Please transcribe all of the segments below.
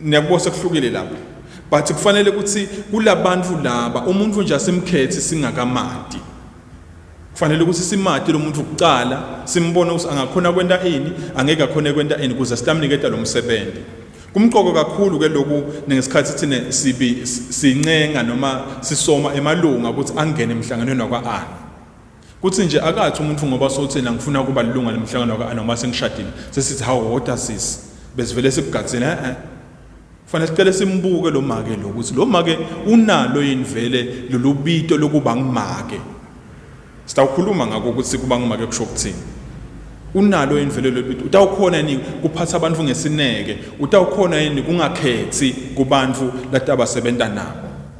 Niyakubona sekuhlukile lapho. But kufanele ukuthi kulabantu laba umuntu nje asimkhethi singakamadi. Kufanele ukuthi simadi lomuntu kuqala simbone ukuthi angakhona kwenta ini, angeke akhone kwenta ini kuze sitamniketa lo msebenzi. Kumqoko kakhulu ke lokhu ngesikhathi thina sibi sincenga noma sisoma emalunga ukuthi angene emhlanganweni wakwa-ana. Kuthi nje akathi umuntu ngoba sotheni angifuna kuba lilunga lemhlangano ka noma sengishadile sesithi hawu hoda sisi besivele sikugadzile eh, eh. Kufanele sicele simbuke lo make lo ukuthi lo make unalo yini vele lolubito lokuba ngimake. Sitawukhuluma ngakho ukuthi kuba ngimake kusho ukuthini. Unalo yini vele lolubito utawukhona yini kuphatha abantu ngesineke utawukhona yini kungakhethi kubantu latabasebenza nabo.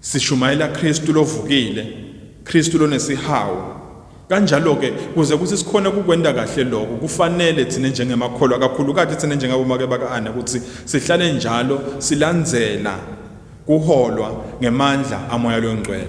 Sishumayela Kristu lovukile, Kristu lonesihawu. Kanjalo-ke, kuze kuthi sikhone ukukwenta kahle loko, kufanele thina njengemakholwa, kakhulukati thina njengabomake baka-Ana, kutsi sihlale njalo silandzela kuholwa ngemandla aMoya loNgcwele.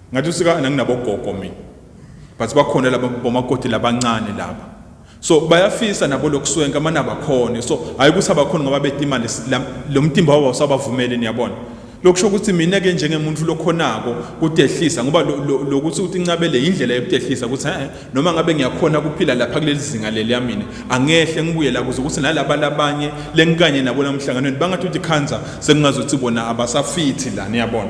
Ngathi usikana nginabogogo mina. But bakhona laba bomakoti labancane laba. So bayafisa nabo lokuswenka manaba khona. So hayi kusaba khona ngoba bethi imali lo mtimba wabo usabavumele niyabona. Lokusho ukuthi mina ke njengemuntu lokhonako kutehlisa ngoba lokuthi uthi incabele indlela yokutehlisa ukuthi eh noma ngabe ngiyakhona ukuphila lapha kulelizinga leli yamina angehle ngibuye la kuze ukuthi nalaba labanye lenkanye nabo namhlanganweni bangathi uthi khanza sekungazothi bona abasafithi la niyabona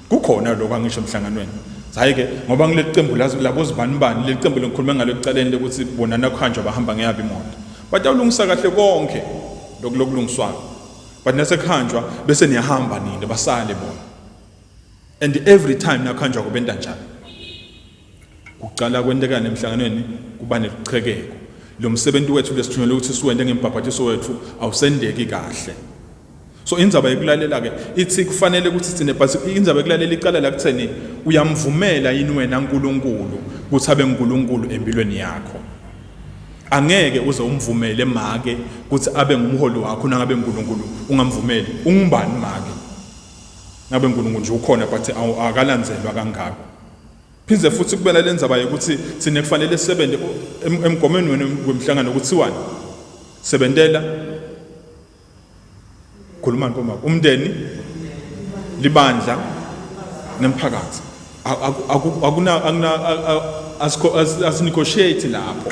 kukhona lokho angisho emhlanganweni hhayi-ke ngoba ngileli qembu labozibanibani leli qembu lengikhulume ngalo ekucaleni lokuthi bona nakuhanjwa bahamba ngeyabo imoto batawulungisa kahle konke lokhu lokulungiswayo but nasekuhanjwa bese niyahamba nini basale bona and every time nakuhanjwa kubentanjani Kuqala kwentekani emhlanganweni kuba neliqhekeko. Lo msebenzi wethu lesithunyelwe ukuthi siwende ngembhabhathiso wethu awusendeki kahle. So indzaba yokulalela ke ithi kufanele ukuthi sithine but indzaba yokulalela iqala la kutheni uyamvumela yini wena uNkulunkulu ukuthi abe uNkulunkulu empilweni yakho. Angeke uze umvumele make ukuthi abe ngumholi wakho nangabe uNkulunkulu ungamvumeli. Ungubani make? Ngabe uNkulunkulu nje ukhona but akalandzelwa kangako. Phinde futhi kube nale ndzaba yokuthi thina kufanele sisebenze emgomeni wenu wemhlangano kuthiwani? Sebentela khulumani bomama umndeni libandla nemphakathi akuna asinegotiate lapho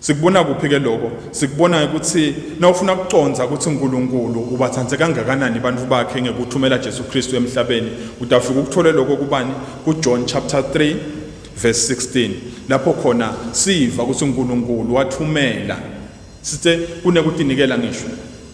Sikubona kuphi ke lokho? Sikubona ukuthi nawufuna ukuconza ukuthi uNkulunkulu ubathande kangakanani abantu bakhe ngekuthumela Jesu Kristu emhlabeni, utafika ukuthole lokho kubani? KuJohn chapter 3 verse 16. Lapho khona siva ukuthi uNkulunkulu wathumela. Sithe kunekutinikela ngisho.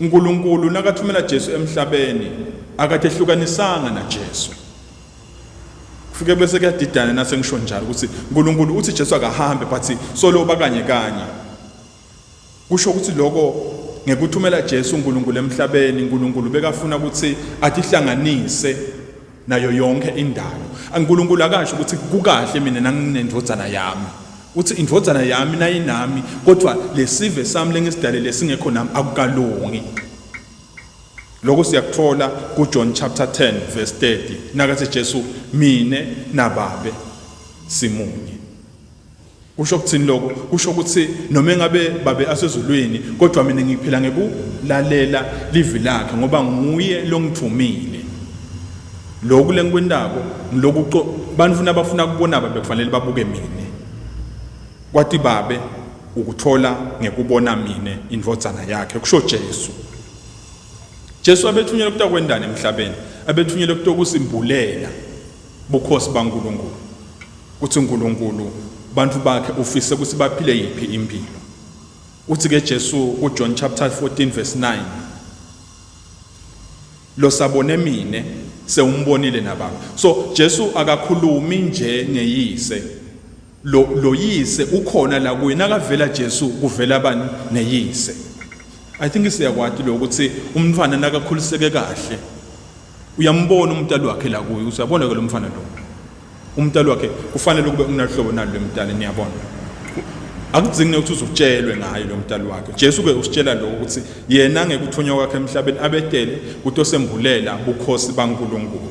UNkulunkulu nakathumela Jesu emhlabeni akatehlukanisanga naJesu. Kufike bese kuyadidana nase ngisho njalo ukuthi uNkulunkulu uthi Jesu akahambe but solo bakanye kanye. Kusho ukuthi lokho ngekuthumela Jesu uNkulunkulu emhlabeni uNkulunkulu bekafuna ukuthi atihlanganise nayo yonke indalo ankulunkulu akasho ukuthi kukahle mina nanginendvodzana yami uthi indvodzana yami nayinami kodwa lesive sami lengisidalele singekho nami akukalungi lokho siyakuthola kuJohn chapter 10 verse 30 nakathi Jesu mine nababe simunye Kusho ukuthini lokho? Kusho ukuthi noma engabe babe asezulwini kodwa mina ngiphila ngekulalela livi lakhe ngoba nguye longithumile. Lokhu lengikwentako ngiloku bantfu nabafuna kubona babe kufanele babuke mina. Kwati babe ukuthola ngekubona mina indvodzana yakhe kusho Jesu. Jesu abethunyelwe kutakwendani emhlabeni? Abethunyelwe kutokusimbulela Bukhosi baNkulunkulu, kuthi uNkulunkulu bantu bakhe ufise ukuthi baphile yiphi impilo. Uthi ke Jesu ku John chapter 14 verse 9 Lo sabone mina sewumbonile nababa. So Jesu akakhulumi nje ngeyise. Lo loyise ukhona la kuye nakavela Jesu kuvela bani neyise. I think siyakwati lo ukuthi umntwana nakakhuliseke kahle uyambona umntali wakhe la kuye usabona ke lo mfana lo. Umntali wakhe kufanele kube unahlobo nalo lemntali niyabona. akudzingi ukuthi uzutshelwe ngayo lo mdali wakhe Jesu ke usitshela lokho ukuthi yena ngekuthunywa kwakhe emhlabeni abetele kutosembulela bukhosi baNkulunkulu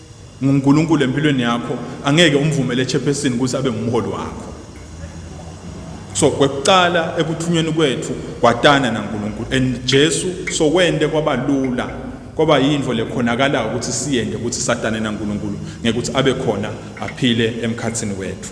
nguNkulunkulu empilweni yakho angeke umvumele echairperson ukuthi abe ngumholi wakho so kwekuqala ekuthunyweni kwethu kwatana naNkulunkulu and Jesu so wende kwabalula kwaba yinto lekhonakalayo ukuthi siyende ukuthi satane naNkulunkulu ngekuthi abe khona aphile emkhathini wethu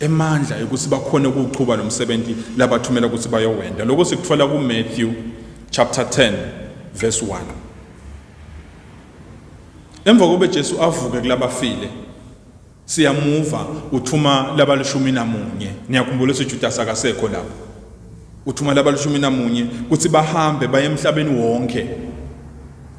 emandla yokuthi bakhone ukuwuqhuba lo msebenzi labathumela ukuthi bayowenda lokho sikuthola kumatthew chapter 10 verse 1 emva kobe jesu avuke kulabafile siyamuva uthuma labalishumi namunye niyakhumbula ukuthi ujudas akasekho lapho uthuma labalishumi namunye ukuthi bahambe baye emhlabeni wonke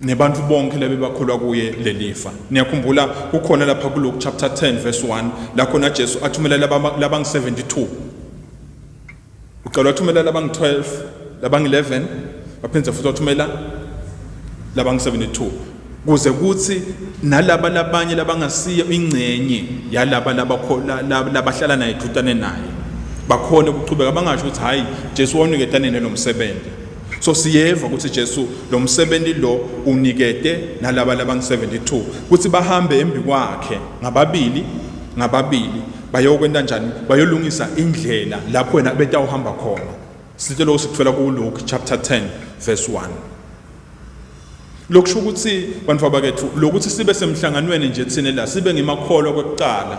nebantu bonke labebakholwa kuye lelifa niyakhumbula kukhona lapha kuLuke chapter 10 verse 1 la khona Jesu athumela labangu-72 uqala wathumela labangu-12 labangu-11 waphinde futhi wathumela labangu-72 kuze kuthi nalaba labanye labangasiyo ingcenye yalaba labahlala naye dutane naye bakhone ukuchubeka bangasho ukuthi hhayi jesu wawuniketane nelo msebenzi So siyeva ukuthi Jesu lo msebenzi lo unikete nalaba labangu-72 ukuthi bahambe embi kwakhe ngababili ngababili bayokwenta njani bayolungisa indlela lapho wena betawuhamba khona sithe lokho sikuthola kuLuke chapter 10 verse 1 lokusho ukuthi bantu abakethu lokuthi sibe semhlanganweni nje thina la sibe ngemakholwa kokuqala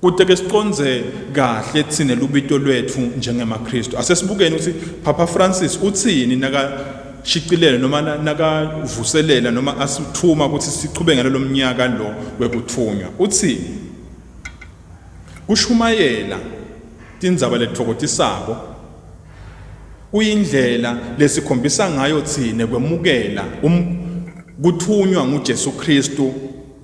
Kude ke siconze kahle thina lubito lwethu njengemaKristu. Asesibukeni ukuthi Papa Francis uthini naka shicilele noma nakavuselela noma asithuma ukuthi siqhube ngalelo mnyaka lo wekuthunywa. Uthini? Kushumayela tindzaba letfokotisako kuyindlela lesikhombisa ngayo thina kwemukela um, kuthunywa nguJesu Kristu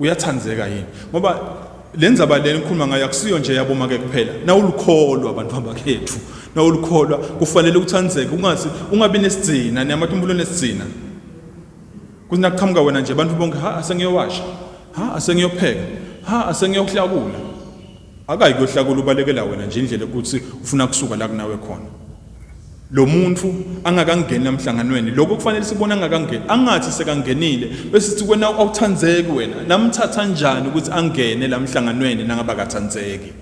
uyathandeka yini ngoba le ndzaba lena ikhuluma ngayo akusiyo nje yabomake kuphela nawulukholwa abantu abakhethu nawulukholwa kufanele uthandzeke ungathi ungabi nesigcina niyamatumbulo nesigcina kuthi nakuqhamuka wena nje abantu bonke ha asengiyowasha ha asengiyopheka ha asengiyohlakula akayi kuyohlakula ubalekela wena nje indlela ukuthi ufuna kusuka la kunawe khona lo muntu angakangeni emhlanganweni lokho kufanele sibone angakangeni angathi sekangenile bese sithi kwena awuthandzeki wena namthatha njani ukuthi angene la mhlanganweni nangaba kathandzeki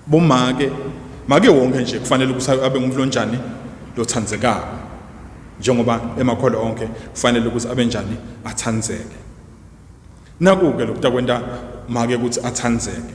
bomake make wonke nje kufanele ukuthi abe ngumuntu onjani lothandzekayo njengoba emakholo onke kufanele ukuthi abe njani athandzeke naku-ke lokutakwenta make ukuthi athandzeke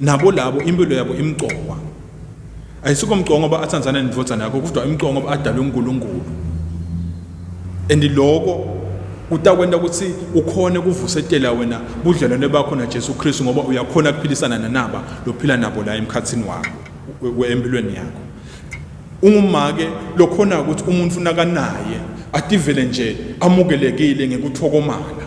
nabo labo impilo yabo imqokwa ayisiko mqoka ngoba athandana nendvodzana yakho kodwa imqoka ngoba adalwe uNkulunkulu and lokho kutakwenta ukuthi ukhone kuvusetela wena budlelwane bakho naJesu Kristu ngoba uyakhona kuphilisana nanaba lophila nabo la emkhathini wakho empilweni yakho ungumake lokhona ukuthi umuntu nakanaye ativele nje amukelekile ngekuthokomala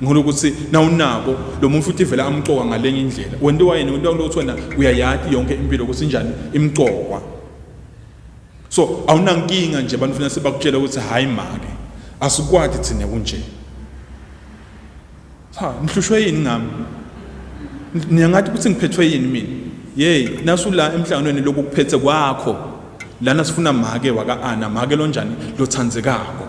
Ngikholwa ukuthi nawunako lo muntu futhi vele amqoka ngalenye indlela. Wena wayeni wena ukuthi wena uyayati yonke impilo ukuthi njani imqokwa. So awunankinga nje abantu funa sebakutshela ukuthi hayi make asikwati thina kunje. Cha ngihlushwe yini ngami? Niyangathi ukuthi ngiphethwe yini mina? Yey nasu la emhlanganweni lokhu kuphethe kwakho. Lana sifuna make waka Ana make lonjani lothandzekako.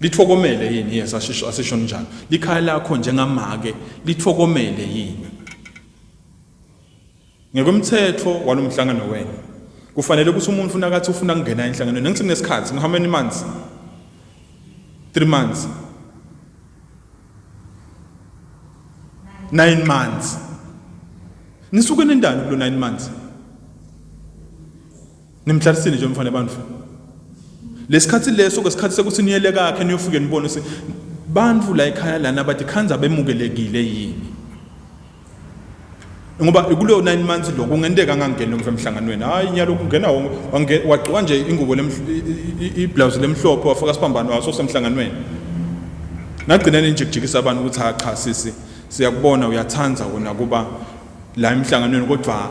Lithokomele yini yes asisho asisho njalo. Likhaya lakho njengamake lithokomele yini? Ngekomthetho walomhlangano wena kufanele ukuthi umuntu ufuna kathi ufuna kungena enhlanganweni ngithe kunesikhathi how many months 3 months 9 months nisuke nendani kulo 9 months Nimhlarisile nje mfana bantu. Lesikhathi leso ke sikhathi sekuthi niyele kakhe niyofike nibone ukuthi bantu la ekhaya lana bathi khanza bemukelekile yini. Ngoba kuleyo 9 months lokho kungenteka angangeni umfana emhlanganweni. Hayi nyalo kungena wonke wagcoka nje ingubo iblouse lemhlophe wafaka sibambano waso semhlanganweni. Nagcina ninjikijikisa abantu ukuthi ha cha sisi siyakubona uyathanda wena kuba la emhlanganweni kodwa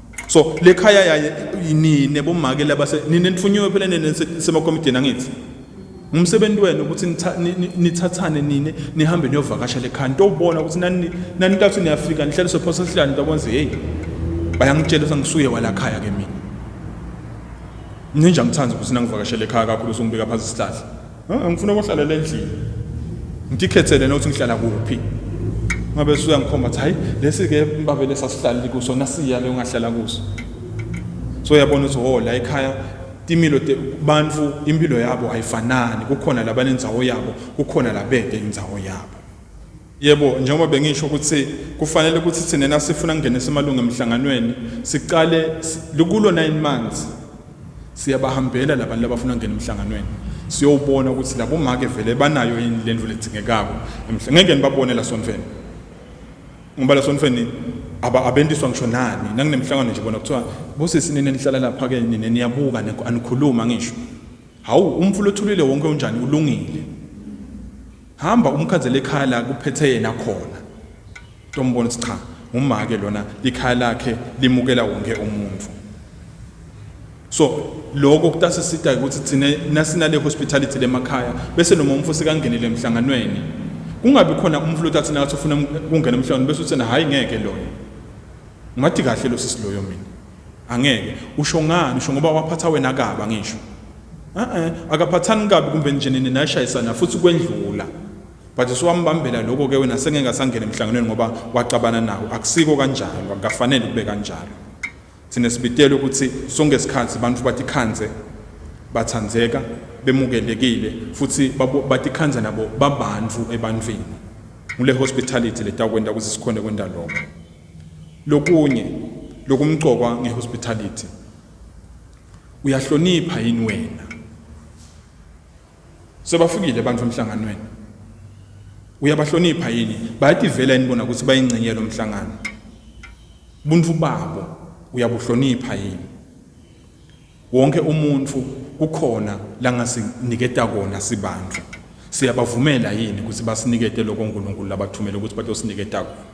so le khaya yaye nine bomake laba nine nitfunyiwe phela nene semakomidini angithi ngumsebenzi wenu ukuthi nithathane nine nihambe niyovakasha le khaya nitobona ukuthi nanintathu niyafika nihlaliswe phosa sihlani nitobona ukuthi heyi bayangitshela ukuthi angisuye wala khaya ke mina ninja ngithanda ukuthi nangivakashele ekhaya kakhulu songibeka phansi isihlahla ngifuna ukuhlalela endlini ngikhethele nokuthi ngihlala kuphi ngabe suyangikhomba ukuthi hayi lesi-ke babele sasihlalile kuso nasiya le ungahlala kuso so uyabona ukuthi ho la ekhaya timilo bantu impilo yabo ayifanani kukhona labanenzawo yabo kukhona labede inzawo yabo Yebo, njengoba bengisho ukuthi kufanele ukuthi thina nasifuna kungenisa amalungu emihlanganweni, siqale likulo nine months siyabahambela labantu labafuna kungena emihlanganweni siyowubona ukuthi labo make vele banayo yini le ndlu ledzingekako emhle ngeke nibabone la sonfeni ngoba la sonfeni abentiswa ngisho nani nanginemhlangano nje bona kuthiwa bosisi nini nihlala lapha ke nini niyabuka anikhuluma ngisho hawu umfula othulile wonke unjani ulungile Hamba umkhanzela ekhaya la kuphethe yena khona. Tombona ukuthi cha, ngumake lona ikhaya lakhe limukela wonke umuntu. So lokho kutasisita ukuthi thina nasinale hospitality lemakhaya bese noma umfo sekangenile emhlanganweni kungabi khona umfo lotathi nathi ufuna ukungena emhlanganweni bese uthena hayi ngeke loyo. Ngathi kahle lo sisi loyo mina. Angeke. Usho ngani? Usho ngoba waphatha wena kabi angisho. Eh akaphathani kabi kumbe nje nini nashayisana futhi kwendlula. But usuwambambela lokho ke wena sengeke asangene emhlanganweni ngoba waxabana nawo. Akusiko kanjalo, akufanele kube kanjalo. Thina sibitela ukuthi sonke isikhathi abantu batikhanze bathandeka bemukelekile futhi batikhanza nabo babantu ebantwini. Ngule hospitality letakwenda ukuthi sikhone kwenda lokho. Lokunye lokumqokwa nge hospitality. Uyahlonipha yini wena? Sebafikile abantu emhlanganweni. Uyabahlonipha yini? Bayativela yini bona ukuthi bayingcenye lomhlangano? Ubuntu babo uyabuhlonipha yini? Wonke umuntu kukhona la ngasiniketa kona sibantu. Siyabavumela yini ukuthi basinikete lokho uNkulunkulu labathumele ukuthi batosiniketa kona?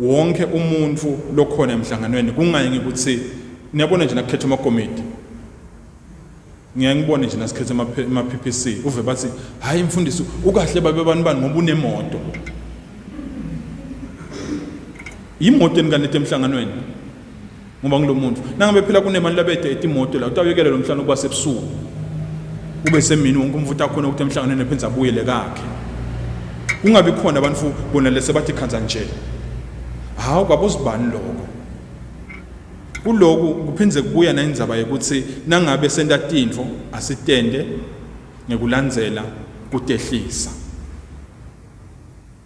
wonke umuntu lokhona emhlanganweni kungaye ngikuthi niyabona nje nakukhetha amakomiti ngiyaye ngibone nje nasikhethe ama-PPC uve bathi hhayi mfundisi ukahle babe bani bani ngoba unemoto yimoto enikanethe emhlanganweni ngoba ngilomuntu nangabe phela kunemali labede etimoto la utawuyekela lo mhlangano ukuba sebusuku ube semini wonke umfuthi akhona ukuthi emhlanganweni ephenza abuyele kakhe kungabi khona abantu bona lese bathi khanza nje hawu kwabuzibani lokho kuloku kuphinde kubuya nendaba yokuthi nangabe senta tintfo asitende ngekulandzela kutehlisa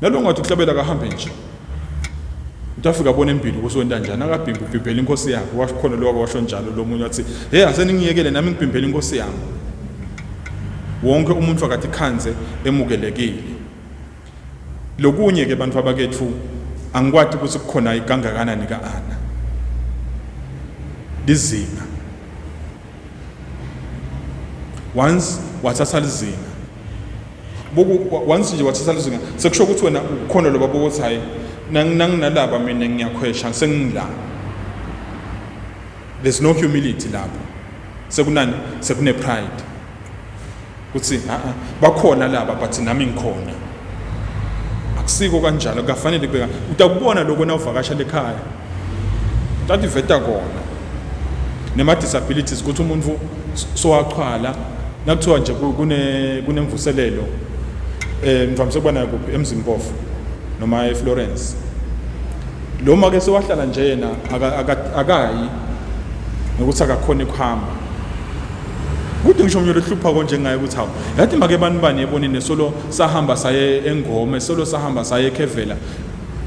nalongathi uhlabela kahambe nje uthi afike abone impilo ukuthi wenta njani akabhimbi ubhimbhela inkosi yakhe washo khona lokho washo njalo lo munye wathi hey aseningiyekele nami ngibhimbhela inkosi yami wonke umuntu akathi khanze emukelekile lokunye ke bantu abakethu angikwati ukuthi kukhona ikangakanani ka-ana lizinga once wathatha lizinga buku once nje wathatha lizinga sekusho ukuthi wena ukhona lo baba ukuthi hayi nanginalaba mina ngiyakhwesha sengila there's no humility lapho sekunani sekune pride kuthi a-a bakhona laba but nami ngikhona akusiko kanjalo kukafanele kubeka utakubona loko nawuvakasha lekhaya tativeta kona nema-disabilities ukuthi umuntu sowaqhwala nakuthiwa nje kunemvuselelo um eh, ngivamise ukuba nayo kuphi emzimpofu noma eflorence lo ma-ke sewahlala nje yena akayi nokuthi akakhona ukuhamba kude ngisho mnyolo hlupha konje ngaye ukuthi hawu yathi make bani bani ebonini solo sahamba saye engome solo sahamba saye ekhevela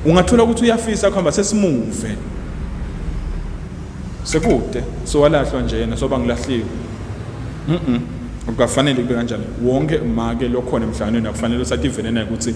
ungathola ukuthi uyafisa kuhamba sesimuve sekude sowalahlwa nje yena soba ngilahliwe mhm akukafanele kube kanjani wonke make lokhona emhlanganweni akufanele usathi ivene naye ukuthi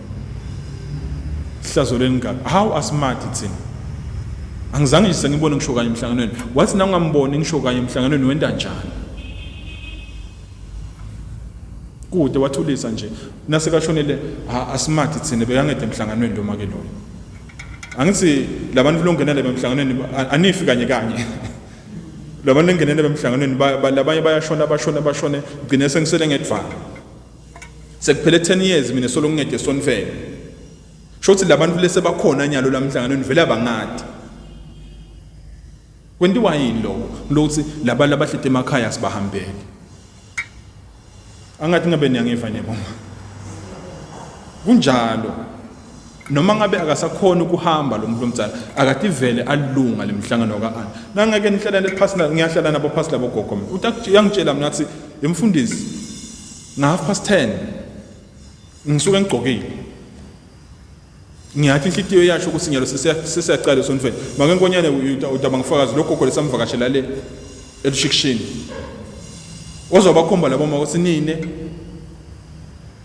Ihlazo lengane. How asmart thina. Angizange nje sengibone ngisho kanye emhlanganweni. Wathi na ungamboni ngisho kanye emhlanganweni wenda njani? Kude wathulisa nje. Nase kashonele ha asmart thina bekangede emhlanganweni lo make loyo. Angithi labantu longenele bemhlanganweni anifi kanye kanye. Labantu lengenele bemhlanganweni labanye bayashona bashona bashone gcine sengisele ngedvana. Sekuphele 10 years mina solo ngingede sonfele. Shothi labantu lese bakhona nyalo lamhlanganweni vele abangadi. Kwendiwa yini lo? Lothi labantu abahlite emakhaya sibahambele. Angathi ngabe niyangiva nje mama. Kunjalo. noma ngabe akasakhona ukuhamba lo muntu omdala akativele alunga le mhlangano ka-ana nangeke nihlalane phasi ngiyahlala nabo phasi labo gogo mina uyangitshela mina athi yemfundisi nga-half past ten ngisuke ngigqokile ngiyathi inhlitiyo yasho ukuthi nyalo sesiyacala esonifeni make nkonyane udaba ngifakazi lo gogo lesamvakashela le elushikishini ozobakhomba labo mako sinine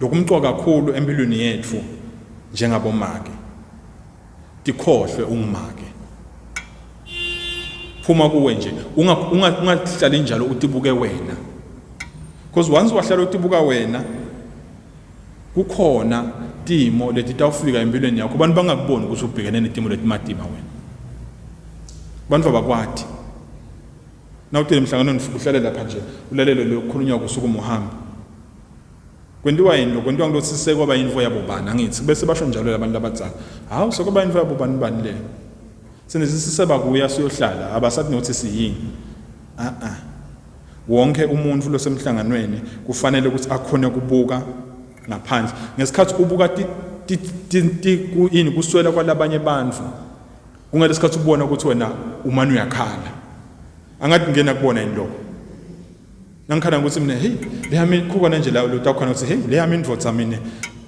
Lokhu kumqoka kakhulu empilweni yethu njengabomake. Tikhohlwe ungumake. Phuma kuwe nje, ungahlali njalo utibuke wena. Because once wahlala utibuka wena, kukhona timo leti tawufika empilweni yakho abantu bangakuboni ukuthi ubhekene netimo letimatima wena abantu abakwati nawutele emhlanganweni uhlale lapha nje ulalele lokukhulunywa kusuku muhambi Kwentiwa yini lokho? Kwentiwa ngilokhu sise kwaba yinfo yabo bani angithi? Bese basho njalo labantu labadzala. Hawu sekwaba yinfo yabo bani bani le. Sine sisiseba kuya siyohlala abasathi nokuthi siyini. Ah ah. Wonke umuntu losemhlanganweni kufanele ukuthi akhone kubuka ngaphandle. Ngesikhathi ubuka ti ti ti, ti ku ini kuswela kwalabanye bantfu. Kungale sikhathi ubona ukuthi wena umane uyakhala. Angathi ngena kubona yini lokho? Ngangikhala ngokuthi mina hey leyami khukona nje la lutho khona ukuthi hey leyami indvodza mina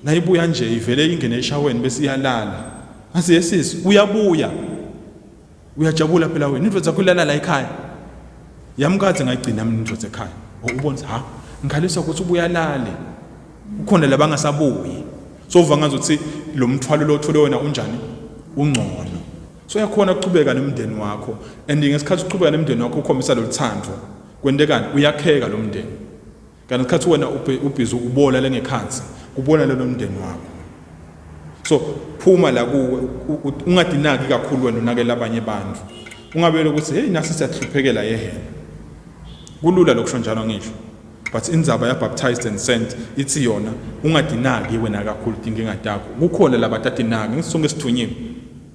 nayibuya nje ivele ingene eshaweni bese iyalala. Ngase yesisi uyabuya. Uyajabula phela wena indvodza yakho ilala la ekhaya. Yamkathe ngayigcina mina indvodza ekhaya. Ubonisa ha ngikhalisa ukuthi ubuyalale. Ukhona labangasabuyi. So uva ngazothi lo mthwalo lo othole wena unjani? Ungcono. So yakhona ukuchubeka nemndeni wakho and ngesikhathi uqhubeka nemndeni wakho ukhombisa loluthando. Kwentekani uyakheka lo mndeni. Kanti isikhathi wena ubhizi ubola lengekhansi kubona lelo mndeni wakho. So phuma la kuwe ungadinaki kakhulu wena unakela abanye abantu. Ungabele ukuthi hey nasi siyahluphekela yehena. Kulula lokusho njalo ngisho. but indzaba yabaptized and sent ithi yona ungadinaki wena kakhulu tinkinga takho kukhona labatadinaki ngisonke sithunyiwe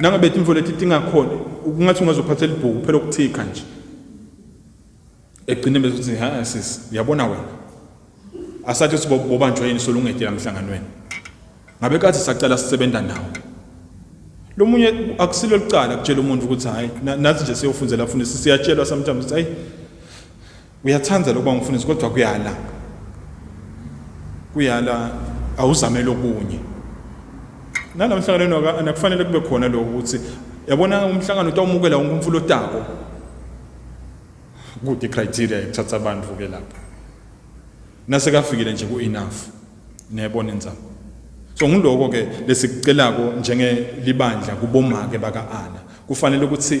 Nangabe tintfo leti tingakhona kungatsi ungazophathela ibhuku phela ukuthikha nje egcine bese uthi ha sisi uyabona wena asathi sibobanjwa yini solungede lamhlanganweni ngabe kathi sacela sisebenza nawo lomunye akusilo licala kutshela umuntu ukuthi hayi nathi nje siyofundzela funa siyatshelwa sometimes ukuthi hayi Uyathanda lokuba umfundisi kodwa kuyala. Kuyala awuzame lokunye. Nalo mhlanganweni waka kufanele kube khona lokho ukuthi yabona umhlangano utawumukela wonke umfulo otako. Kude criteria yokuthatha abantu ke lapha. Nase kafikile nje ku enough. Niyabona inzama. So ngiloko ke lesikucelako njenge libandla kubomake baka Ana. Kufanele ukuthi